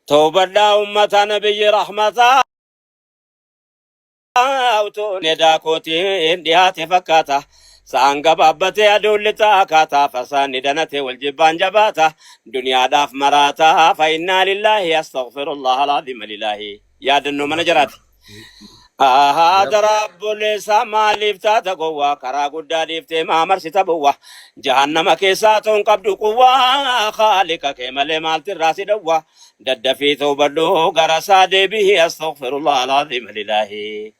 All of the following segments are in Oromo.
Tawbadhaa ummataa nabiyyi rahmataa utuun edaa kootiin dhiyaate fakkaata. Sa'aan gabaabbatee aduun lixaa akkaataa fasaanni danatee wal jibbaan jabaata. Duniyaadhaaf maraataa fa'innaa lillaahi astaghfirullah alaaziima lilaahi. Yaadannoo mana jaraati. Ahaa Yep. daraa bolleessaa maaliif taata gowwaa karaa guddaa dhiiftee maa marsita bowwaa jahannama keessaa toon qabdu quwwaa haaliqa kee malee maalti irraa si dhowwaa daddafii toobadhu gara isaa deebihi astaghfirullah alaaziim lilaahi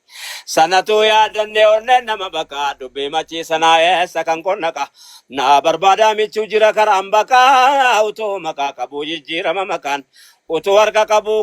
sanatu yaadannee onnee nama baqa dubbii machii sanaa eessa kan qonnaqa naa barbaadaa michuu jira karaan baqaa utuu maqaa qabuu jijjiirama maqaan utuu harka qabuu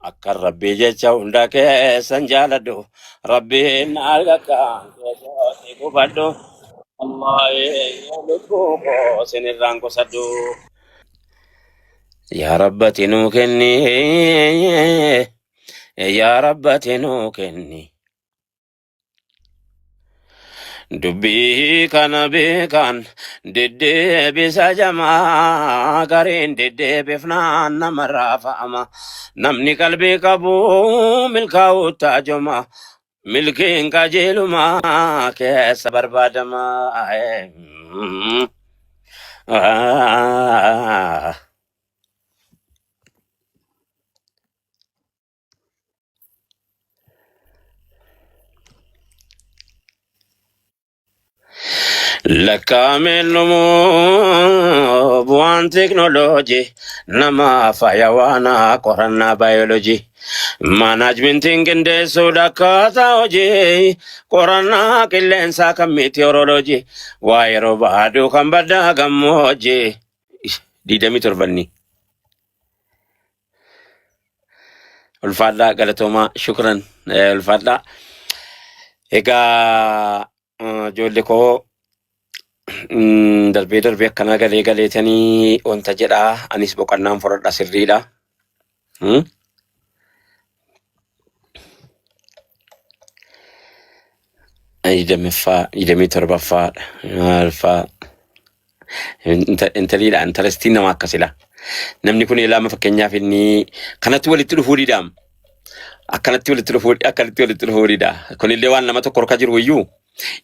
Akka rabbii jecha hunda keessan jaaladhu. Rabbiin maal akka keessatti gubadhu. Allah eenyu lubbuu koo sinirraan qusadhu. Yaa rabbati nuu kenni. Yaa rabbati nuu kenni. Dubbii kana beekan deddeebisa jamaa gariin deddeebifnaan nama raafa'ama. Namni qalbii qabu milkaa'uu taajoma. Milkiin qajeeluma keessa barbaadama. Ah. Lakkaa'ameen dhumuu bu'aan teeknooloojii nama faayawaanaa qorannaa baayoloojii. Maanaajmentiin qindeessuudha akkaataa hojii qorannaa qilleensaa kan miitiyoorooloojii waa yeroo baaduu kan baddaa gammoojii. Digdamii torbanni. Ulfaadhaa galatoomaa shukran eh, ulfaadhaa. Egaa eh, ijoollee koo mm, darbee darbee akkanaa galee galeetanii wanta jedhaa anis boqannaan fudhadha sirriidha. Hmm? Digdamiffaa, digdamii torbaffaa, maalfaa. Inta- Intaliidha, intarestiin nama akkasidha. Namni kun ilaama fakkeenyaaf inni kanatti walitti dhufuu didaam. Akkanatti walitti dhufuu, akkanatti walitti dhufuu dida. Kunillee waan nama tokko harka jiru iyyuu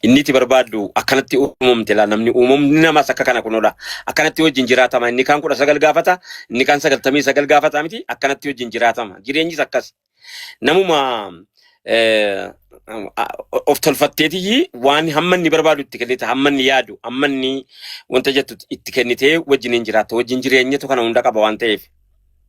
Inni itti barbaaddu akkanatti uumamte laa namni uumamni namas akka kana kunoodha. Akkanatti wajjin jiraatama. Inni kaan kudha sagal gaafata, inni kaan sagaltamii sagal gaafata miti akkanatti wajjin jiraatama. Jireenyis akkas. Namuma eh, a- of tolfatteetii waan hamma inni barbaadu itti kennite, hamma inni yaadu, hamma inni wanta jettu itti kennitee wajjin hin jiraatta. Wajjin jireenyatu kana hunda qaba waan ta'eef.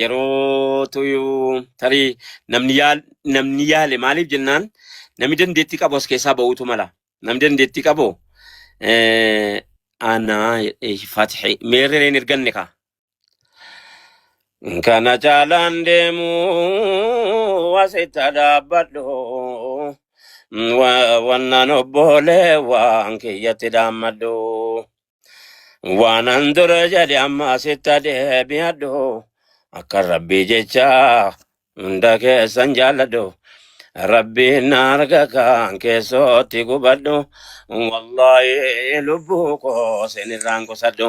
Yeroo tuyuu tarii namni yaal namni yaale maaliif jennaan namni dandeettii qabu as keessaa ba'uutu mala. Namni dandeettii qabu eh, anaa eh, fatixee meerree hin erganne kaa. Kana caalaan deemu asitti dhaabbadhu. Wa- Wannaan obboolee waan kiyyatti dhaammadhu. Waan an dura jedhe amma sitta deebi'adhu. Akka rabbii jecha hunda keessan jaalladhu. Rabbiin na arga kan keessootti gubadhu. Wallaahi lubbuu koo sinirraan qusadhu.